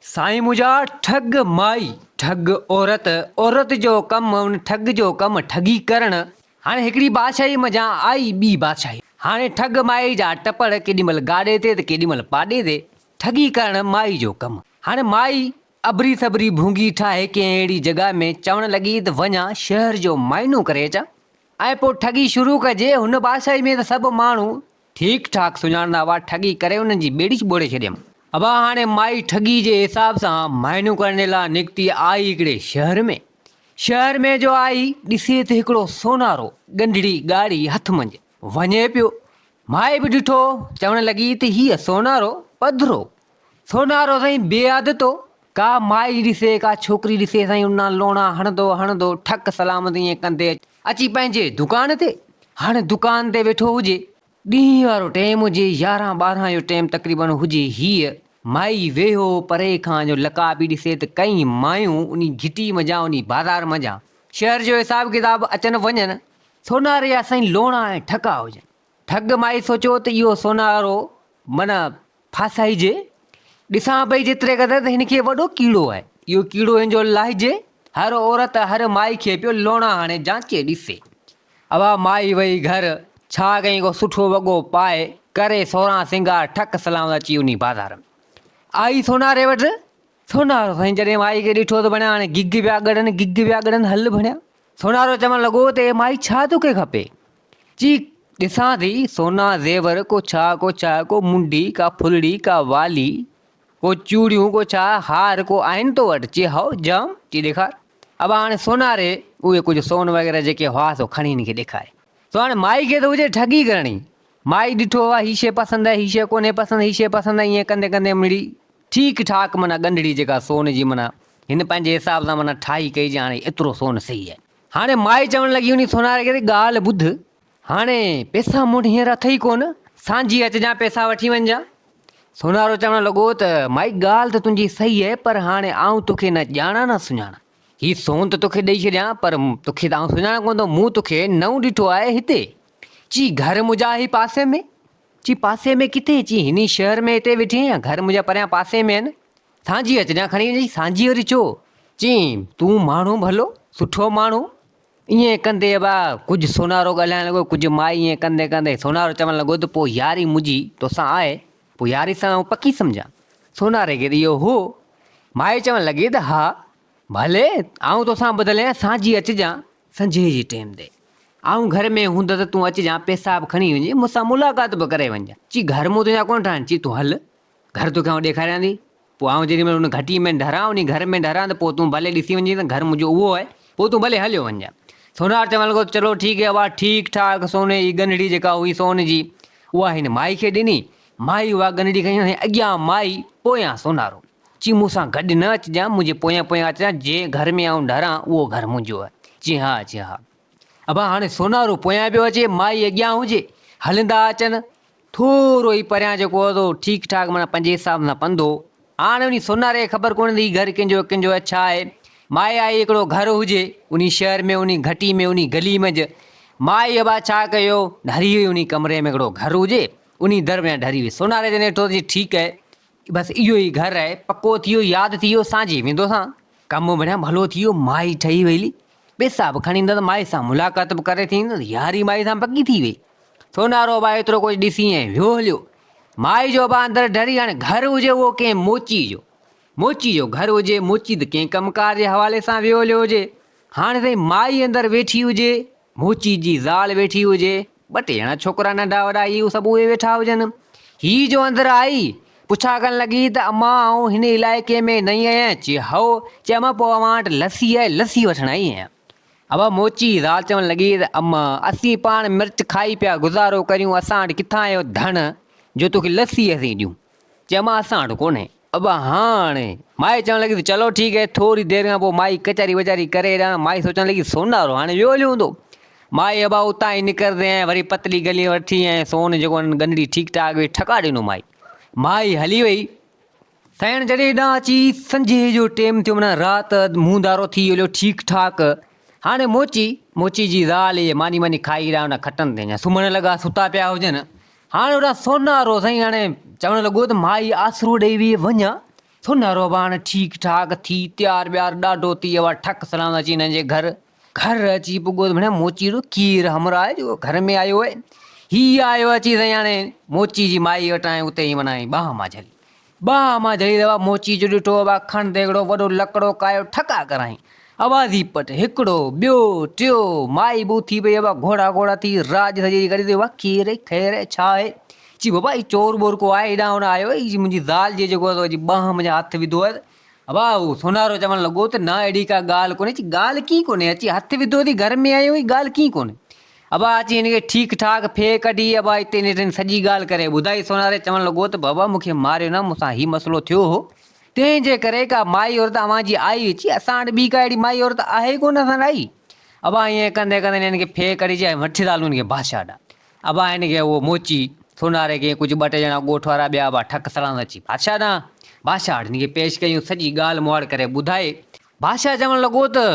سائين منهنجا ٺڳ مائي ٺڳ عورت عورت جو ڪم ان ٺڳ جو ڪم ٺڳي ڪرڻ هاڻي هڪڙي بادشاهي منجهان آئي ٻي بادشاهي هاڻي ٺڳ مائي جا ٽپڙ ڪيڏي مهل گاڏي تي ته ڪيڏي مهل پاڏي تي ٺڳي ڪرڻ مائي جو ڪم هاڻي مائي اڀري سڀري ڀونگي ٺاهي ڪنهن اهڙي جڳهه ۾ چوڻ لڳي ته وڃان شهر جو معائنو ڪري اچان ۽ پوء ٺڳي شروع ڪجي هن بادشاهي ۾ ته سڀ ماڻهو ٺيڪ ٺاڪ سڃاڻندا هئا، ٺڳي ڪري انهن جي ٻيڙي ٻوڙي ڇڏيم. ابا هاڻي مائي ٺڳي جي حساب سان مهينو ڪرڻي لا نڪتي آئي هڪڙي شهر ۾. شهر ۾ جو آئي، ڏسي ته هڪڙو سونارو ڳنڍڙي ڳاڙهي هٿ منجهه وڃي پيو. مائي به ڏٺو، چوڻ لڳي ته هيء سونارو پڌرو سونارو سائين بي حد تو ڪا مائي ڏسي ڪا ڇوڪري ڏسي سائين انان لوڻا هڻندو هڻندو ٺڪ سلام تي ائين ڪندي اچي پنهنجي دڪان تي هاڻي دڪان تي ويٺو هجي ڏينهن وارو ٽيم هجي يارهن ٻارهن جو ٽيم تقريبن هجي هيء مائي ويهو پري کان جو لڪا پي ڏسي ته ڪئين مايون انهي گهٽي منجهان انهي بازار منجهان شهر جو حساب ڪتاب اچن وڃن سوناري جا سائين لوڻا ۽ ٺڪا هجن ٺڳ مائي سوچيو ته اهو سونارو من ڦاسائجي، ڏسان پئي جيتري قدر ته هن کي وڏو ڪيڙو آهي، اهو ڪيڙو هن جو لاهجي، هر عورت هر مائي کي پيو لوڻا هڻي جانچي ڏسي. اها مائي وئي گهر، ڇا ڪيائين ڪو سٺو وڳو پائي، ڪري سوران سينگار، ٺڪ سلام اچي وڃي بازار ۾. آئي سوناري وٽ، سونارو سائين جڏهن مائي کي ڏٺو ته ڀڻيا هاڻي گگ پيا ڳڙن، گگ پيا ڳڙن، هل ڀڻيا. سونارو چوڻ لڳو ته اي مائي ڇا توکي کپي؟ چي ڏسان ٿي سونا زيور ڪو ڇا ڪو ڇا ڪو منڍي ڪا ڦلڙي ڪا والي ڪو چوڙيون ڪو ڇا هار ڪو آهن تو وٽ چي هائو جام چي ڏيکار ابا هاڻي سوناري اهي ڪجهه سون وغيره جيڪي هئا سو کڻي هن کي ڏيکاري سو هاڻي مائي کي ته هجي ٺڳي ڪرڻي مائي ڏٺو هو هي شي پسند آهي هي شي ڪونهي پسند هي شي پسند آهي ائين ڪندي ڪندي مڙي ٺيڪ ٺاڪ معنيٰ ڳنڍڙي جيڪا سون جي معنيٰ هن پنهنجي حساب سان معنيٰ ٺاهي ڪئي جي هاڻي ايترو سون سهي آهي هاڻي مائي چوڻ لڳي انهي سوناري کي ته ڳالهه ٻڌ، هاڻي پيسا مون وٽ هينئر اٿئي ڪونه، سانجهي اچجانء پيسا وٺي وڃجانء. سونارو چوڻ لڳو ته مائي ڳالهه ته تنهنجي صحيح اهي پر هاڻي آئون توکي نه ڄاڻان نه سڃاڻان. هي سون ته توکي ڏئي ڇڏيان پر توکي ته آئون سڃاڻان ڪونه ٿو، مون توکي نئون ڏٺو آهي هتي. چي گهر منهنجا اهي پاسي ۾. چي پاسي ۾ ڪٿي؟ چي هني شهر ۾ هتي ويٺي آهيان، گهر منهنجا پريان پاسي ۾ آهن. سانجهي اچ جا کڻي وڃي سانجهي وري چو چين تون ماڻهو ڀلو سٺو ماڻهو ائين ڪندي ابا ڪجهه سونارو ڳالهائڻ لڳو ڪجهه ماء ائين ڪندي ڪندي سونارو چوڻ لڳو ته پوء ياري منهنجي توسان آهي پوء ياري سان آئون پڪي سمجهان سوناري کي ته اهو هو مائي چوڻ لڳي ته ها ڀلي آئون توسان ٻڌل آهيان سانجهي اچجان سنجهي جي ٽيم تي آئون گهر ۾ هوندس ته تون اچجان پيسا به کڻي وڃي مون سان ملاقات به ڪري وڃجان چي گهر مون تنهنجا ڪونه ٺاهڻ چي تون هل گهر توکي آئون ڏيکاريان ٿي. پوء آئون جيڏي مهل ان گهٽيء ۾ ڍران، انهي گهر ۾ ڍران ته پوء تون ڀلي ڏسي وڃجين ته گهر منهنجو اهو آهي. پوء تون ڀلي هليو وڃجان. سونهار چوڻ لڳو ته چلو ٺيڪ هي ابا، ٺيڪ ٺاڪ سونهي جي ڳنڍڙي جيڪا هئي سون جي، اها هن مائي کي ڏني. مائي اها ڳنڍڙي کنيو ۽ اڳيان مائي، پويان سونهارو. چيائين مون سان گڏ نه اچجان، منهنجي پويان پويان اچجان، جنهن گهر ۾ آئون ڍران، اهو گهر منهنجو آهي. چيائين ها، چيائين ها. ابا هاڻي سونهارو پويان پيو اچي، مائي اڳيان هجي. هلندا اچن. ٿورو ئي پريان جيڪو هو سو ٺيڪ ٺاڪ معنيٰ پنهنجي حساب سان پنڌ هو. هاڻ انهي سوناري کي خبر ڪونه ته هي گهر ڪنهن جو هو، ڪنهن جو هو، ڇا آهي؟ مائي آئي هڪڙو گهر هجي، انهي شهر ۾ انهي گهٽي ۾ انهي گلي منجهه مائي ابا ڇا ڪيو، ڍري هئي انهي ڪمري ۾ هڪڙو گهر هجي، انهي در ۾ ڍري هئي. سوناري جڏهن ڏٺو ته جي ٺيڪ هي، بس اهو ئي گهر آهي پڪو ٿيو ياد ٿي ويو سانجهي ويندو سان. ڪم بڻيا ڀلو ٿي ويو مائي ٺهي ويلي پيسا به کڻي ايندس مائي سان ملاقات به ڪري ٿي ايندس ياري مائي سان پڪي ٿي وئي سونارو ڀاء ايترو ڪجهه ڏسي ۽ ويو هليو مائي جو ڀاء اندر ڊري هاڻي گهر هجي اهو ڪنهن موچي جو موچي جو گهر هجي موچي ته ڪنهن ڪم ڪار جي حوالي سان ويو هليو هجي هاڻي سائين مائي اندر ويٺي هجي موچي جي زال ويٺي هجي، ٻه ٽي ڄڻا ڇوڪرا ننڍا وڏا هي هو سڀ اهي ويٺا هجن. هيء جو اندر آئي، پڇا ڪرڻ لڳي ته امان آئون هن علائقي ۾ نئين آهيان؟ چي هئو، چي امان پوء اوهان وٽ لسي آهي، لسي وٺڻ آئي آهيان. امان موچي جي زال چوڻ لڳي ته امان اسين پاڻ مرچ کائي پيا گذارو ڪريون، اسان وٽ ڪٿان اهو ڌڻ جو توکي لسي اسين ڏيون؟ چي امان اسان وٽ ڪونهي. ابا هان هاڻي. مائي چوڻ لڳي ته چلو ٺيڪ هي. ٿوري دير کان پوء مائي ڪچهري وچهري ڪري هيڏانهن مائي سوچڻ لڳي سونارو هاڻي ويو هليو هوندو. مائي ابا اتان ئي نڪرندي ۽ وري پتلي گلي وٺي ۽ سون جيڪو هن گنڍي ٺيڪ ٺاڪ هئي ٺڪاء ڏنو مائي. مائي هلي وئي. سائڻ جڏهن هيڏانهن اچي سنجهي جو ٽيم ٿيو معنيٰ رات منهن ڌارو ٿي ويو هليو ٺيڪ ٺاڪ هاڻي موچي، موچي جي زال، اهي ماني ماني کائي هيڏانهن هن کٽن تي اڃا سمهڻ لڳا ستا پيا هجن. هاڻ اهڙا سونارو سائين هاڻي چوڻ لڳو ته مائي آسرو ڏيئي ويئي وڃان سونارو به هاڻي ٺيڪ ٺاڪ ٿي تيار ويار ڏاڍو ٿي اهو ٺڪ سلام اچي هنن جي گهر گهر اچي پڳو ته ڀڻيا موچي اهڙو ڪير همراهه آهي جيڪو گهر ۾ آيو آهي هي آيو اچي سائين هاڻي موچي جي مائي وٽان اتي ئي معنيٰ ٻانهن مان جهلي ٻانهن مان جهلي روا موچي جو ڏٺو اڀا کڻ ديڳڙو وڏو لڪڙو ڪايو ٺڪا ڪرائين اوازي پٽ هڪڙو ٻيو ٽيو مائي ٻه ٿي پئي اڀا گهوڙا گهوڙا ٿي راڄ سڄي جي ڪري ٿي اڀا ڪير اي خير اي ڇا اي چي بابا هي چور ٻور ڪو آهي هيڏانهن هوڏانهن آيو اي منهنجي زال جي جيڪو سو جي ٻانهن منهنجا هٿ وڌو هيس اڀا هو سونارو چوڻ لڳو ته نه اهڙي ڪا ڳالهه ڪونهي چي ڳالهه ڪي ڪونهي اچي هٿ وڌو ٿي گهر ۾ آيو هي ڳالهه ڪي ڪونهي ابا اچي هن کي ٺيڪ ٺاڪ ڦيهه ڪڍي ابا اتي نيٺن سڄي ڳالهه ڪري ٻڌائي سوناري چوڻ لڳو ته بابا مون کي ماريو نه مون سان هي مسئلو ٿيو هو تنهن جي ڪري ڪا مائي عورت اوهان جي آئي اچي اسان وٽ ٻي ڪا اهڙي مائي عورت آهي ڪونه اسان وٽ آئي ابا ائين ڪندي ڪندي هن کي ڦيهه ڪڍي چيائين وٺ ٿا هلون هن کي بادشاهه ڏانهن ابا هن کي اهو موچي سوناري کي ڪجهه ٻه ٽي ڄڻا ڳوٺ وارا ٻيا ابا ٺڪ سڙان سان اچي بادشاهه ڏانهن بادشاهه وٽ هن کي پيش ڪيائين سڄي ڳالهه مهاڙ ڪري ٻڌائي بادشاهه چوڻ لڳو ته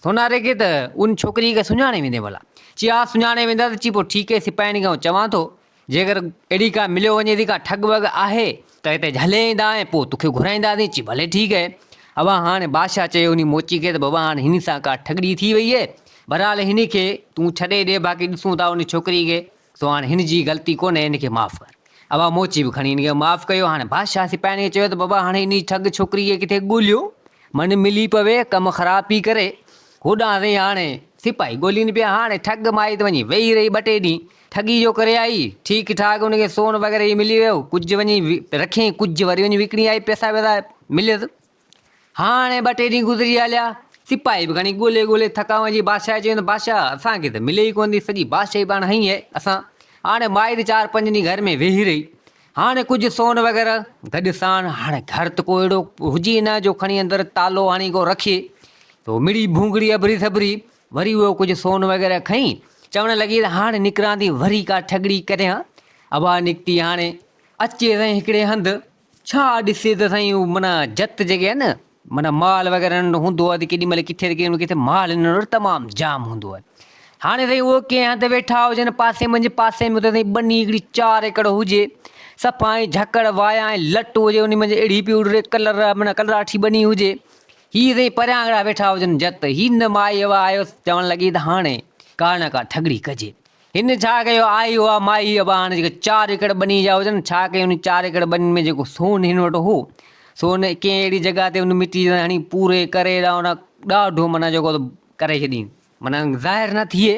سوناري کي ته ان ڇوڪريء کي سڃاڻي ويندين ڀلا؟ چي ها سڃاڻي ويندا ته چي پوء ٺيڪ اهي سپاهين کي آئون چوان ٿو جيڪر اهڙي ڪا مليو وڃي ٿي ڪا ٺڳ وڳ آهي ته هتي جهلي ايندا ۽ پوء توکي گهرائينداسين چي ڀلي ٺيڪ اهي اوا هاڻي بادشاهه چيو انهي موچي کي ته بابا هاڻي هن سان ڪا ٺڳڙي ٿي وئي اهي بهرحال هن کي تون ڇڏي ڏي باقي ڏسون ٿا ان ڇوڪريء کي سو هاڻ هن جي غلطي ڪونهي هن کي معاف ڪر. اها موچي به کڻي هن کي معاف ڪيو هاڻ بادشاهه سپاهين کي چيو ته بابا هاڻ انهي ٺڳ ڇوڪري کي ڪٿي ڳوليو من ملي پوي ڪم خراب پي ڪري هوڏانهن سائين هاڻ سپاهي ڳولين پيا هاڻ ٺڳ مائي ته وڃي ويهي رهي ٻه ٽي ڏينهن ٺڳي جو ڪري آئي ٺيڪ ٺاڪ هن کي سون وغيره هي ملي ويو ڪجهه وڃي رکين ڪجهه وري وڃي وڪڻي آئي پئسا وئسا مليس. هاڻي ٻه ٽي ڏينهن گذري هليا. سپاهي به گهڻي ڳولي ڳولي ٿڪا وڃي بادشاهه چيو ته بادشاهه اسان کي ته ملي ئي ڪونه ٿي، سڄي بادشاهي پاڻ هنئي آهي، اسان هاڻي مائي ته چار پنج ڏينهن گهر ۾ ويهي رهي، هاڻي ڪجهه سون وغيره گڏ ساڻ، هاڻي گهر ته ڪو اهڙو هجي نه جو کڻي اندر تالو هڻي ڪو رکي، تو مڙئي ڀونگڙي اڀري سڀري وري اهو ڪجهه سون وغيره کنئي، چوڻ لڳي ته هاڻي نڪران ٿي وري ڪا ٺڳڙي ڪريان، اها نڪتي هاڻي اچي سائين هڪڙي هنڌ ڇا ڏسي ته سائين هو معنيٰ جت جيڪي آهي نه معنيٰ مال وغيره ننڍو هوندو آهي ته ڪيڏي مهل ڪٿي ته ڪيڏي مهل ڪٿي مال هنن وٽ تمام جام هوندو آهي هاڻي سائين اهو ڪنهن هنڌ ويٺا هجن پاسي منهنجي پاسي ۾ ته سائين ٻني هڪڙي چار ايڪڙ هجي صفا ائين جهڪڙ وايان ۽ لٽ هجي ان منجهه اڙي پيو اڙي ڪلر معنيٰ ڪلراٺي ٻني هجي هي سائين پريان هڪڙا ويٺا هجن جت هي نه مائي هوا آيو چوڻ لڳي ته هاڻي ڪا نه ڪا ٺڳڙي ڪجي هن ڇا ڪيو آهي اها ماهي اباڻ جيڪي چار ايڪڙ ٻني جا هجن ڇا ڪيو ان چار ايڪڙ ٻنين ۾ جيڪو سون هن وٽ هو سو هن ڪنهن اهڙي جڳهه تي ان مٽي سان هڻي پوري ڪري ڏانهن ڏاڍو معنيٰ جيڪو ڪري ڇڏين معنيٰ ظاهر نه ٿئي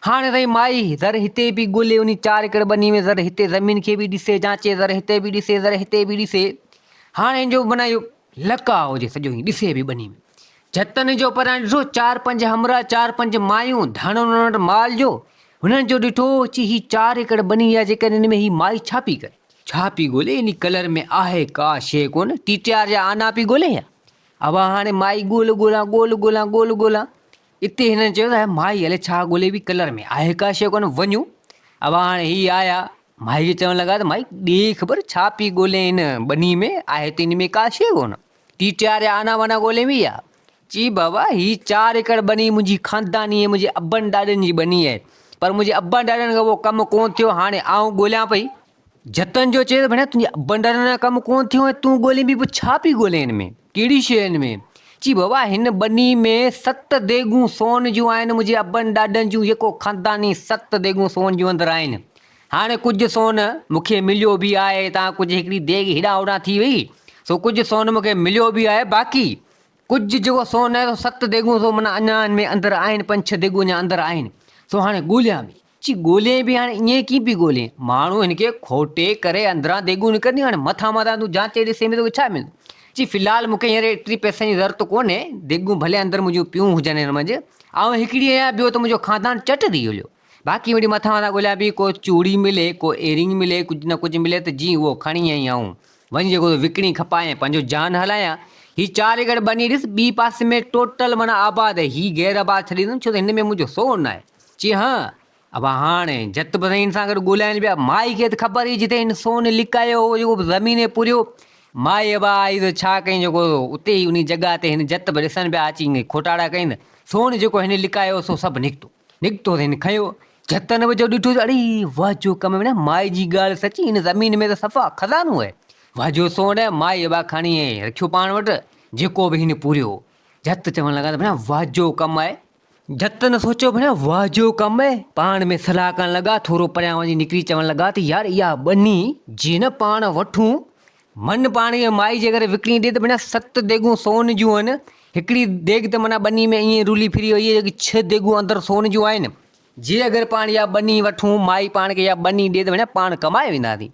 هاڻي تائين مائي ذر هتي به ڳولي ان چار ايڪڙ ٻني ۾ ذر هتي زمين کي به ڏسي جانچي ذر هتي به ڏسي ذر هتي به ڏسي هاڻي هن جو معنيٰ اهو لڪاء هجي سڄو ائين ڏسي به ٻني ۾ جتن جو پرڻ ڏٺو، چار پنج همراهه، چار پنج مايون، ڌڻ انهن وٽ مال جو، هنن جو ڏٺو، چي هي چار ايڪڙ ٻني آهي، جيڪڏهن ان ۾ هي مائي ڇا پي ڪري؟ ڇا پي ڳولي؟ انهي ڪلر ۾ آهي ڪا شيء ڪونه، ٽيٽيار جا آنا پي ڳولي ڇا؟ اوهان هاڻي مائي ڳول ڳولان، ڳول ڳولان، ڳول ڳولان. اتي هنن چيو ته مائي الئي ڇا ڳولي پي، ڪلر ۾ آهي ڪا شيء ڪونه، وڃون. اوهان هاڻي هي آيا، مائي کي چوڻ لڳا ته مائي ڏي خبر ڇا پي ڳولين هن ٻني ۾، آهي ته ان ۾ ڪا شيء ڪونه. ٽي ٽي آر يا آنا وانا ڳولين ويئي ها. چي بابا هي چار ايڪڙ ٻني منهنجي خانداني ۽ منهنجي ابن ڏاڏن جي ٻني آهي پر منهنجي ابن ڏاڏن کان اهو ڪم ڪونه ٿيو هاڻي آئون ڳوليان پئي. جتن جو چيس ڀيڻ تنهنجي ابن ڏاڏن کان ڪم ڪونه ٿيو ۽ تون ڳولين پئي پوء ڇا پئي ڳولين هن ۾ ڪهڙي شيء هن ۾ چي بابا هن ٻني ۾ ست ديڳون سون جون آهن منهنجي ابن ڏاڏن جون يڪو خانداني ست ديڳون سون جون اندر آهن هاڻي ڪجهه سون مون کي مليو به آهي هتان ڪجهه هڪڙي ديڳ هيڏانهن هوڏانهن ٿي وئي سو ڪجهه سون مون کي مليو به آهي باقي ڪجهه جيڪو سون آهي سو ست ديڳون سو منا اڃا ان ۾ اندر آهن پنج ڇهه ديڳون اڃا اندر آهن سو هاڻي ڳوليان به چي ڳولين به هاڻي ائين ڪيئن پي ڳولين ماڻهو هن کي کوٽي ڪري اندران ديڳون نڪرنديون هاڻي مٿان مٿان تون جانچي ڏسين به توکي ڇا ملندو چي في الحال مون کي هينئر ايتري پئسن جي ضرورت ڪونهي ديڳون ڀلي اندر منهنجون پيون هجن هن منجهه آئون هڪڙي آهيان ٻيو ته منهنجو خاندان چٽ ٿي هليو باقي وڙي مٿان وارا ڳوليا پئي ڪو چوڙي ملي ڪو ايرنگ ملي ڪجهه نه ڪجهه ملي ته جي اهو کڻي ۽ آئون وڃي جيڪو سو وڪڻي کپايان پنهنجو جان هلايان هي چار ايڪڙ ٻني ڏس ٻي پاسي ۾ ٽوٽل معنيٰ آباد هي غير آباد ڇڏي ڏيندم ڇو ته هن ۾ منهنجو سور ناهي چي ها ابا هاڻي جت به سائين سان گڏ ڳولائين پيا مائي کي ته خبر هئي جتي هن سون لڪايو هو جيڪو زمين پوريو مائي ابا آئي ته ڇا ڪيائين جيڪو اتي ئي انهي جڳهه تي هن جت به ڏسن پيا اچي کٽاڙا ڪيائين سون جيڪو هن لڪايو هو سو سڀ نڪتو نڪتو ته هن کنيو، جهت نه وجهيو، ڏٺو ته اڙي! واهه جو ڪم وڻيا، مائي جي ڳالهه سچي، هن زمين ۾ ته صفا خزانو اهي. واهه جو سون اهي، مائي ابا کڻي اهي رکيو پاڻ وٽ، جيڪو به هن پوريو. جهت چوڻ لڳا ته ڀڻيا واهه جو ڪم اهي. جهت نه سوچيو ڀڻيا واهه جو ڪم اهي، پاڻ ۾ صلاح ڪرڻ لڳا، ٿورو پريان وڃي نڪري چوڻ لڳا ته يار اها ٻني جي نه پاڻ وٺون من پاڻيء مائي جي ڪري وڪڻي ڏي ته ڀيڻا ست ديڳون سون جون هن، هڪڙي ديڳ ته منا ٻني ۾ ائين رولي ڦري وئي آهي جيڪي ڇهه ديڳون اندر سون جون آهن. جي اگر پاڻ اها ٻني وٺون، مائي پاڻ کي اها ٻني ڏي ته ڀيڻا پاڻ ڪمائي وينداسين.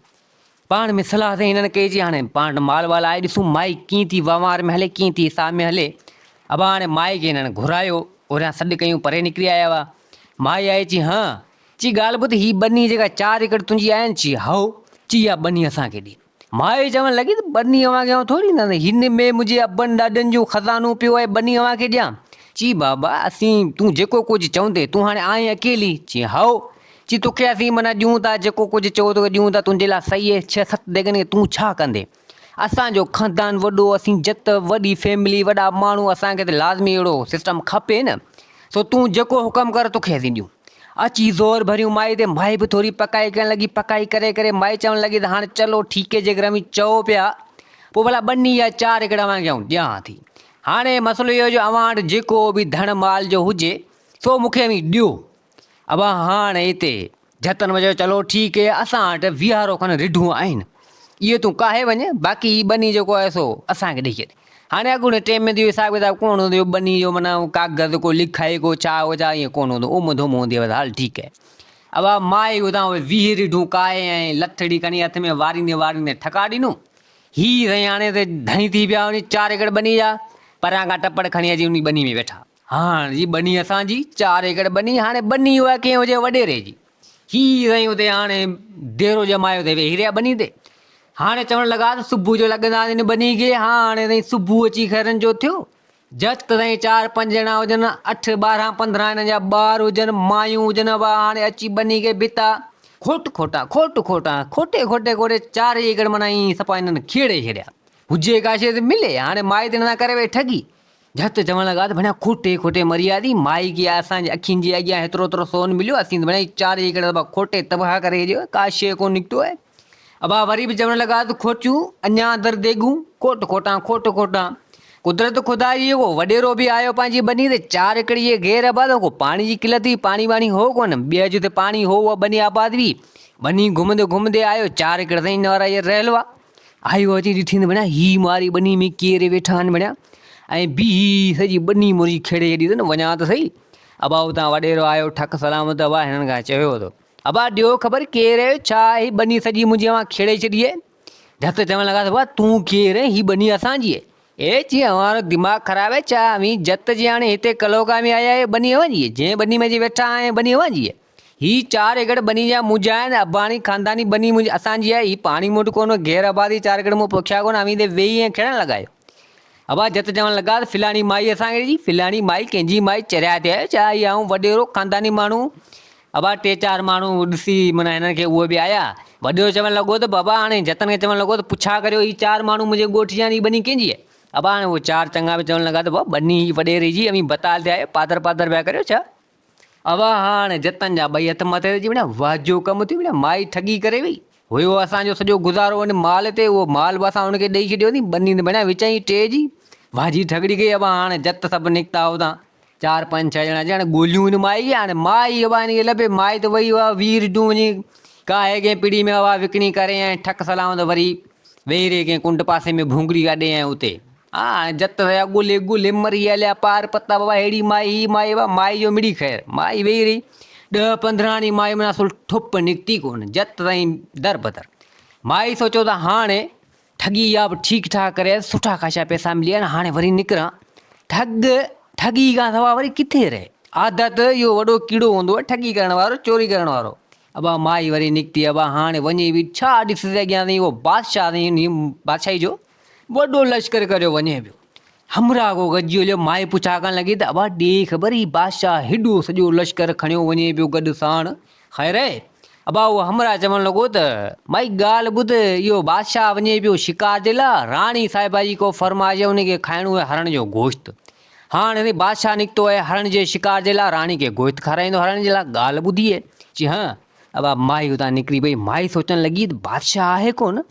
پاڻ ۾ صلاح ٿي هنن ڪئي چي هاڻي پاڻ وٽ مال وال آهي ڏسون مائي ڪيئن ٿي وهنوار ۾ هلي ڪيئن ٿي حساب ۾ هلي. ابا هاڻي مائي کي هنن گهرايو اوريان سڏ ڪيون پري نڪري آيا هئا. مائي آئي چي هان! چي ڳالهه ٻڌ، هي ٻني جيڪا چار ايڪڙ تنهنجي آهي نه؟ چي هائو. چي اها ٻني اسان کي ڏي. مائي چوڻ لڳي ته ٻني اوهان کي آئون ٿوري ڏيندس، هن ۾ منهنجي ابن ڏاڏن جو خزانو پيو آهي، ٻني اوهان کي ڏيان؟ چي بابا اسين تون جيڪو ڪجهه چوندين، تون هاڻي آئين اڪيلي؟ چي هائو. چي توکي اسين معنيٰ ڏيون ٿا، جيڪو ڪجهه چئو توکي ڏيون ٿا، تنهنجي لاء صحيح اهي ڇهه ست ديڳن کي تون ڇا ڪندين؟ اسان جو خاندان وڏو اسين جت وڏي فيملي وڏا ماڻهو اسان کي ته لازمي اهڙو سسٽم کپي نه سو تون جيڪو حڪم ڪر توکي اسين ڏيون اچي زور ڀريون مائي تي مائي به ٿوري پڪائي ڪرڻ لڳي پڪائي ڪري ڪري مائي چوڻ لڳي ته هاڻ چلو ٺيڪي جيڪر اوهين چئو پيا پوء ڀلا ٻني يا چار ايڪڙ اوهان کي آئون ڏيان ٿي هاڻي مسئلو اهو جو اوهان وٽ جيڪو به ڌڻ مال جو هجي سو مونکي اوهين ڏيو ابا هاڻ اتي جهتن وجهيو چلو ٺيڪ اي اسان وٽ ويهارو کن رڍون آهن اهي تون ڪاهي وڃ باقي هي ٻني جيڪو آهي سو اسان کي ڏئي ڇڏ هاڻي اڳوڻي ٽيم ۾ اهو حساب ڪتاب ڪونه هوندو هيو ٻني جو معنيٰ ڪاغذ ڪو لکائي ڪو ڇا هو ڇا ائين ڪونه هوندو اوم ڌوم هوندي هئس هل ٺيڪ اي ابا مائي اتان اهي ويهه رڍون ڪاهي ۽ لٿڙي کڻي هٿ ۾ واريندي واريندي ٺڪا ڏنو هي سائين هاڻي ته ڌڻي ٿي پيا وڃي چار ايڪڙ ٻني جا پريان کان ٽپڙ کڻي اچي انهي ٻني ۾ ويٺا هاڻ جي ٻني اسان جي، چار ايڪڙ ٻني، هاڻي ٻني اها ڪنهن هجي وڏيري جي. هي سائين اتي هاڻي ديرو ڄمايو اٿئي ويهي رهيا ٻني تي. هاڻي چوڻ لڳا ته صبح جو لڳنداسين هن ٻني کي، هاڻي سائين صبح اچي خيرن جو ٿيو. جت ته سائين چار پنج ڄڻا هجن، اٺ ٻارهن پندرهن هنن جا ٻار هجن، مايون هجن اها هاڻي اچي ٻني کي ڀتا، کوٽ کوٽا، کوٽ کوٽا، کوٽي کوٽي کوٽي چارئي ايڪڙ معنيٰ ائين سپا هنن کيڙي ڇڏيا. هجي ڪا شيء ته ملي، هاڻي مائي ڌڻ سان ڪري ويئي ٺڳي. جهت چوڻ لڳا ته ڀڻيا کوٽي کوٽي مريا ٿي، مائي ڪيا اسان جي اکين جي اڳيان هيترو هيترو سون مليو، اسين ته ڀڻيا چار ئي هڪڙا دٻا کوٽي تباهه ڪري ڇڏيو، ڪا شيء ڪونه نڪتو آهي. ابا وري به چوڻ لڳا ته کوٽيون اڃا در ديڳون، کوٽ کوٽان کوٽ کوٽان. قدرت خدا جي ڪو وڏيرو به آيو پنهنجي ٻني تي، چار ايڪڙ جي گهير ابا ته ڪو پاڻي جي قلت هئي، پاڻي واڻي هو ڪونه، ٻيهر جتي پاڻي هو اها ٻني آباد هئي، ٻني گهمندي گهمندي آيو، چار ايڪڙ سائين نوارا جي رهيل هئا. آهيو اچي ڏٺين ته ڀڻيا هي ماري ٻني ۾ ڪير ويٺا آهن ڀڻيا ۽ بي هي سڄي ٻني منهنجي کيڙي ڇڏي اٿن وڃان ته سهي ابا اتان وڏيرو آيو ٺڪ سلامت ابا هنن کان چيو ته ابا ڏيو خبر ڪير آهيو ڇا هي ٻني سڄي منهنجي اوهان کيڙي ڇڏي آهي جت چوڻ لڳا ته ابا تون ڪير آهين هي ٻني اسان جي آهي اي چي اوهان جو دماغ خراب آهي ڇا اوهين جت جي هاڻي هتي ڪلوڪا ۾ آيا آهيو ٻني اوهان جي آهي جنهن ٻني ۾ اچي ويٺا آهيو ٻني اوهان جي آهي هي چار ايڪڙ ٻني جا منهنجا آهن، اباڻي خانداني ٻني منهنجي اسان جي آهي، هي پاڻي موٽ ڪونه، غير آبادي چار ايڪڙ مون پوکيا ڪونه، اوهين تي ويهي ۽ کيڙڻ لڳا آهيو. ابا جت چوڻ لڳا ته فلاڻي مائي اسان کي ڏي، فلاڻي مائي ڪنهن جي مائي چريا ٿي آهيو، ڇا هي آئون وڏيرو خانداني ماڻهو. ابا ٽي چار ماڻهو ڏسي معنيٰ هنن کي اهي به آيا. وڏيرو چوڻ لڳو ته بابا هاڻي جتن کي چوڻ لڳو ته پڇا ڪريو هي چار ماڻهو منهنجي ڳوٺ جا آهن، هي ٻني ڪنهن جي آهي. ابا هاڻي اهي چار چڱا به چوڻ لڳا ته بابا ٻني هي وڏيري جي، اوهين بتال ٿيا آهيو، پاتر پاتر پيا ڪريو ڇا. اوهان هاڻ جتن جا ٻئي هٿ مٿي ته جيوڻيان وهه جو ڪم ٿيو ويڻيان مائي ٺڳي ڪري وئي هيو اسان جو سڄو گذارو ان مال تي اهو مال به اسان ان کي ڏئي ڇڏيو ني ٻني ته ويڻيان وچ ۽ ٽي جي وهه جي ٺڳڙي ڪئي اوهان هاڻ جت سڀ نڪتا اوتان چار پنج ڇهه ڄڻا ڄڻ ڳوليون ان مائي کي هاڻ مائي اوهان ان کي لڀي مائي ته وئي اوهان وير جون وڃي ڪاهي ڪنهن پڙي ۾ اوهان وڪڻي ڪري ۽ ٺڪ سلام ته وري ويهي رهي ڪنهن ڪنڊ پاسي ۾ ڀونگڙي اڏي ۽ اتي آ جت هيا ڳولهي ڳولهي مري هليا پار پتا بابا ههڙي مائي هي مائي وا مائي جو مڙئي خير مائي ويهي رهي ڏهه پندرهاڻي مائي من اصل ٺپ نڪتي ڪونه جت تائين در بدر مائي سوچيو ته هاڻي ٺڳي يا به ٺيڪ ٺاڪ ڪري سٺا خاشا پيسا ملي ويا هاڻي وري نڪران ٺڳ ٺڳي کان سوا وري ڪٿي رهي عادت اهو وڏو ڪيڙو هوندو آهي ٺڳي ڪرڻ وارو چوري ڪرڻ وارو ابا مائي وري نڪتي ابا هاڻي وڃي به ڇا ڏسي اڳيان اهو بادشاهه بادشاهي جو وڏو لشڪر ڪريو وڃي پيو. همراهه ڪو گڏجي هليو، مائي پڇا ڪرڻ لڳي ته ابا ڏي خبر هي بادشاهه هيڏو سڄو لشڪر کڻيو وڃي پيو گڏ ساڻ خير اهي؟ ابا اهو همراهه چوڻ لڳو ته مائي ڳالهه ٻڌ اهو بادشاهه وڃي پيو شڪار جي لاء راڻي صاحبه جي ڪو فرمائش ان کي کائڻو اهي هرڻ جو گوشت هاڻ اهي بادشاهه نڪتو اهي هرڻ جي شڪار جي لاء راڻي کي گوشت کارائيندو هرڻ جي لاء ڳالهه ٻڌي اهي چي ها ابا مائي اتان نڪري پئي مائي سوچڻ لڳي ته بادشاهه آهي ڪونه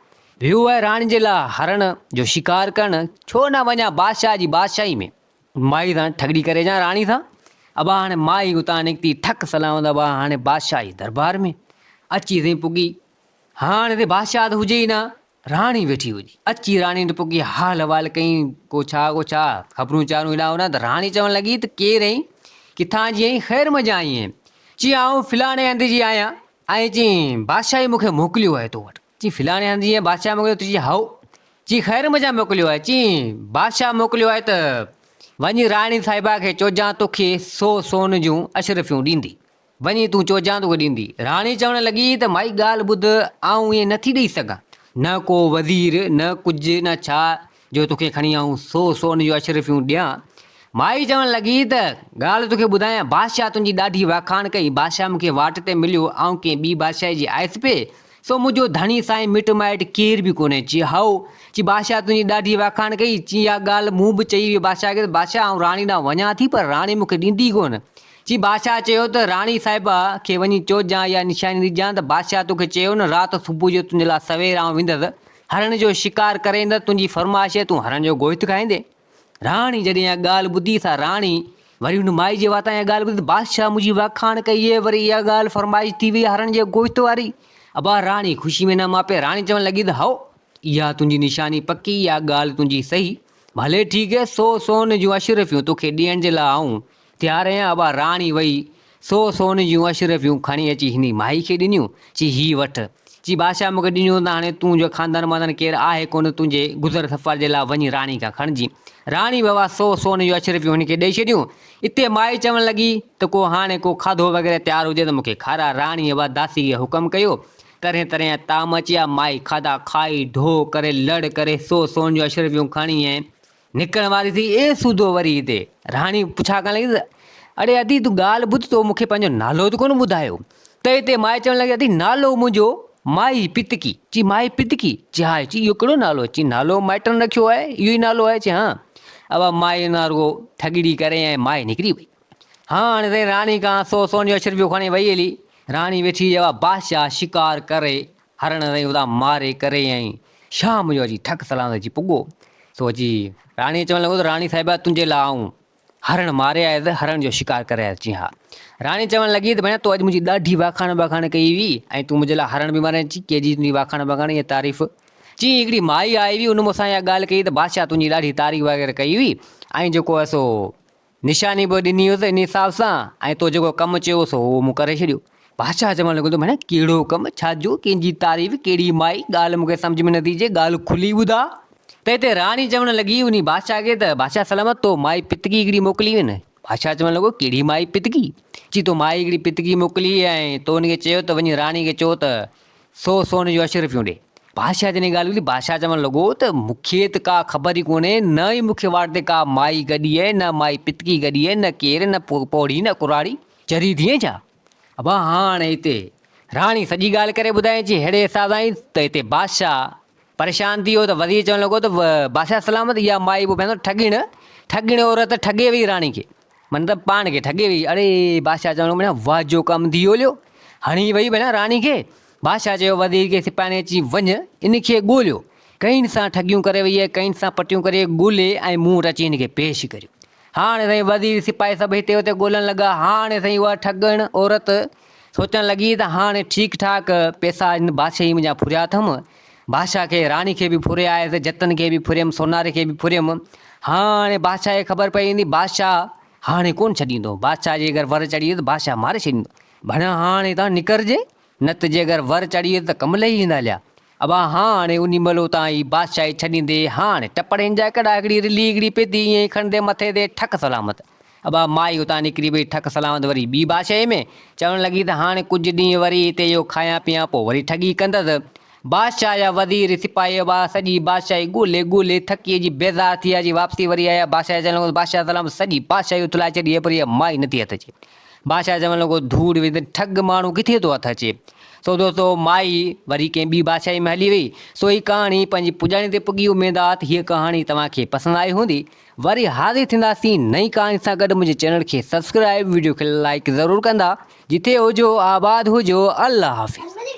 ويو آهي راڻي جي لاء هرڻ جو شڪار ڪرڻ ڇو نه وڃان بادشاهه جي بادشاهي ۾. مائي سان ٺڳڙي ڪري اچان راڻي سان ابا هاڻي مائي اتان نڪتي ٺڪ سلامت ابا هاڻي بادشاهي دربار ۾ اچي سين پڳي هاڻ هتي بادشاهه ته هجي ئي نه راڻي ويٺي هجي اچي راڻي وٽ پڳي حال احوال ڪئين ڪو ڇا ڪو ڇا خبرون چارون هيڏانهن هوڏانهن ته راڻي چوڻ لڳي ته ڪير آهين ڪٿان جي آهين خير مزه آئين آهين چي آئون فلاڻي هنڌ جي آهيان ۽ چي بادشاهي مون کي موڪليو آهي تو وٽ چي فلاڻي هنڌ جيئن بادشاهه موڪليو تو چي هائو چي خير مجا موڪليو آهي چي بادشاهه موڪليو آهي ته وڃي راڻي صاحبه کي چوجان توکي سو سون جون اشرفيون ڏيندي وڃي تون چوجان توکي ڏيندي راڻي چوڻ لڳي ته مائي ڳالهه ٻڌ آئون ائين نٿي ڏئي سگهان نه ڪو وزير نه ڪجهه نه ڇا جو توکي کڻي آئون سو سون جون اشرفيون ڏيان. مائي چوڻ لڳي ته، ڳالهه توکي ٻڌايان، بادشاهه تنهنجي ڏاڍي واکاڻ ڪئي، بادشاهه مون کي واٽ تي مليو، آئون ڪنهن ٻي بادشاهي جي آيس پئي، سو منهنجو ڌڻي سائين مٽ مائٽ ڪير به ڪونهي. چي، هائو! چي، بادشاهه تنهنجي ڏاڍي واکاڻ ڪئي. چي، اها ڳالهه مون به چئي هئي بادشاهه کي ته، بادشاهه آئون راڻي ڏانهن وڃان ٿي پر راڻي مون کي ڏيندي ڪونه. چي، بادشاهه چيو ته، راڻي صاحبه کي وڃي چوجان اها نشاني ڏجان ته، بادشاهه توکي چيو نه رات صبح جو تنهنجي لاء سوير آئون ويندس، هرڻ جو شڪار ڪرين ته تنهنجي فرمائش آهي تون هرڻ جو گوشت کائيندين. راڻي جڏهن اها ڳالهه ٻڌي ته راڻي وري هن مائي جي واتان اها ڳالهه ٻڌي ته بادشاهه منهنجي واکاڻ ڪئي اهي وري اها ڳالهه فرمائش ٿي وئي هرڻ جي گوشت واري. ابا راڻي خوشي ۾ نه ماپي راڻي چوڻ لڳي ته هائو اها تنهنجي نشاني پڪي اها ڳالهه تنهنجي صحيح ڀلي ٺيڪ هي سو سون جون اشرفيون توکي ڏيڻ جي لاء آئون تيارهين ابا راڻي وئي، سو سون جون اشرفيون کڻي اچي هني مائي کي ڏنيون، چي هي وٺ. چي بادشاهه مون کي ڏنيون ته هاڻي تون جو خاندان واندان ڪير آهي ڪونه تنهنجي گذر سفر جي لاء وڃي راڻي کان کڻجين. راڻي به اها سو سون جون اشرفيون هن کي ڏئي ڇڏيون. اتي مائي چوڻ لڳي ته ڪو هاڻي ڪو کاڌو وغيره تيار هجي ته مون کي کارا. راڻي ابا داسي کي حڪم ڪيو. طرحين طرحين جا طعام اچيا، مائي کاڌا کائي، ڍو ڪري، لڙ ڪري، سو سون جون اشرفيون کڻي ۽. نڪرڻ واري ٿي اي سوڌو وري هتي راڻي پڇا ڪرڻ لڳي اڙي ادي تون ڳالهه ٻڌ تو مونکي پنهنجو نالو ته ڪونه ٻڌايو ته هتي مائي چوڻ لڳي ادي نالو منهنجو مائي پتڪي چي مائي پتڪي چي ها چي اهو ڪهڙو نالو چي نالو مائٽن رکيو آهي اهو ئي نالو آهي چي ها اها مائي نا رڳو ٺڳڙي ڪري ۽ مائي نڪري وئي هاڻ ري راڻي کان سو سون جو اشرفيو کڻي وئي هلي راڻي ويٺي اها بادشاهه شڪار ڪري هرڻ رئي ادا ماري ڪري ۽ شاهه منهنجو اچي ٺڪ سلام اچي پڳو سو اچي راڻي چوڻ لڳو ته راڻي صاحبه تنهنجي لاء آئون هرڻ ماري آيس ته هرڻ جو شڪار ڪري آيس چي ها راڻي چوڻ لڳي ته ڀيڻ تو اڄ منهنجي ڏاڍي واکاڻ ٻاکاڻ ڪئي هئي ۽ تون منهنجي لاء هرڻ به ماري اچي ڪي جي تنهنجي واکاڻ ٻاکاڻ ۽ تعريف چي هڪڙي مائي آئي هئي ان مون سان اها ڳالهه ڪئي ته بادشاهه تنهنجي ڏاڍي تعريف وغيره ڪئي هئي ۽ جيڪو آهي سو نشاني به ڏني هيس ان حساب سان ۽ تو جيڪو ڪم چيو هو سو هو مون ڪري ڇڏيو. بادشاهه چوڻ لڳو ته ڀيڻ ڪهڙو ڪم، ڇا جو، ڪنهن جي تعريف، ڪهڙي مائي، ڳالهه مون کي سمجهه ۾ نٿي اچي، ڳالهه کلي ٻڌاء. ته هتي راڻي چوڻ لڳي انهي بادشاهه کي ته بادشاهه سلامت تو مائي پتڪي هڪڙي موڪلي هئي نه؟ بادشاهه چوڻ لڳو ڪهڙي مائي پتڪي؟ چي تو مائي هڪڙي پتڪي موڪلي هئي ۽ تو ان کي چيو ته وڃي راڻي کي چئو ته سو سون جون اش رپيون ڏي. بادشاهه جڏهن ڳالهه ٻڌي، بادشاهه چوڻ لڳو ته مون کي ته ڪا خبر ئي ڪونهي، نه ئي مون کي واٽ تي ڪا مائي گڏي اهي، نه مائي پتڪي گڏي اهي، نه ڪير، نه پوڙهي، نه ڪراڙي. چري ٿئين ڇا؟ ابا هاڻ هتي راڻي سڄي ڳالهه ڪري ٻڌائين چي ههڙي حساب سان ايئن ته هتي بادشاهه پريشان ٿي ويو ته وزير چوڻ لڳو ته بادشاهه سلامت اها مائي به ڀينر ٺڳڻ، ٺڳڻ عورت ٺڳي وئي راڻي کي. من ته پاڻ کي ٺڳي وئي. اڙي! بادشاهه چوڻ لڳو، مڙيا واهه جو ڪم ڌيئو ليو. هڻي وئي مڙيا راڻي کي. بادشاهه چيو، وزير کي سپاهين اچي وڃ ان کي ڳوليو. ڪئين سان ٺڳيون ڪري وئي آهي، ڪئين سان پٽيون ڪري ڳولي ۽ مون وٽ اچي هن کي پيش ڪريو. هاڻ سائين وزير سپاهي سڀ هتي هتي ڳولڻ لڳا. هاڻ سائين اها ٺڳڻ عورت سوچڻ لڳي ته هاڻ ٺيڪ ٺاڪ پيسا هن بادشاهي منهنجا ڦريا اٿم. بادشاهه کي، راڻي کي به ڦري آيس، جتن کي به ڦريم، سوناري کي به ڦريم. هاڻي بادشاهه کي خبر پئي ويندي، بادشاهه هاڻي ڪونه ڇڏيندو، بادشاهه جي اگر ور چڙهي ويس ته بادشاهه ماري ڇڏيندو. ڀڻيا هاڻي اتان نڪرجي، نه ته جي اگر ور چڙهي ويس ته ڪم لهي ويندا هليا. ابا هاڻي انهي مهل اتان هي بادشاهي ڇڏيندي، هاڻي ٽپڙين جا ڪڙا هڪڙي رلي هڪڙي پيتي ائين ئي کڻندي مٿي تي ٺڪ سلامت. ابا مائي اتان نڪري وئي، ٺڪ سلامت وري ٻي بادشاهيء ۾ چوڻ لڳي ته هاڻ ڪجهه ڏينهن وري هتي اهو کايان پيان پوء وري ٺڳي ڪندس. بادشاهه جا وزير، سپاهي ابا سڄي بادشاهي ڳولي ڳولي ٿڪي جي بيزار ٿي آيا جي واپسي وري آيا بادشاهه کي چوڻ لڳو ته بادشاهه سلامت سڄي بادشاهي اٿلائي ڇڏي آهي پر اها مائي نٿي هٿ اچي. بادشاهه چوڻ لڳو ڌوڙ ويهه تين ٺڳ ماڻهو ڪٿي ٿو هٿ اچي. سو دوستو مائي وري ڪنهن ٻي بادشاهيء ۾ هلي وئي. سو هي ڪهاڻي پنهنجي پڄاڻي تي پڳي اميدات هيء ڪهاڻي توهان کي پسند آئي هوندي. وري حاضر ٿينداسين نئين ڪهاڻي سان گڏ منهنجي چينل کي سبسڪرائيب ويڊيو کي لائيڪ ضرور ڪندا جتي هجو آباد هجو الله حافظ.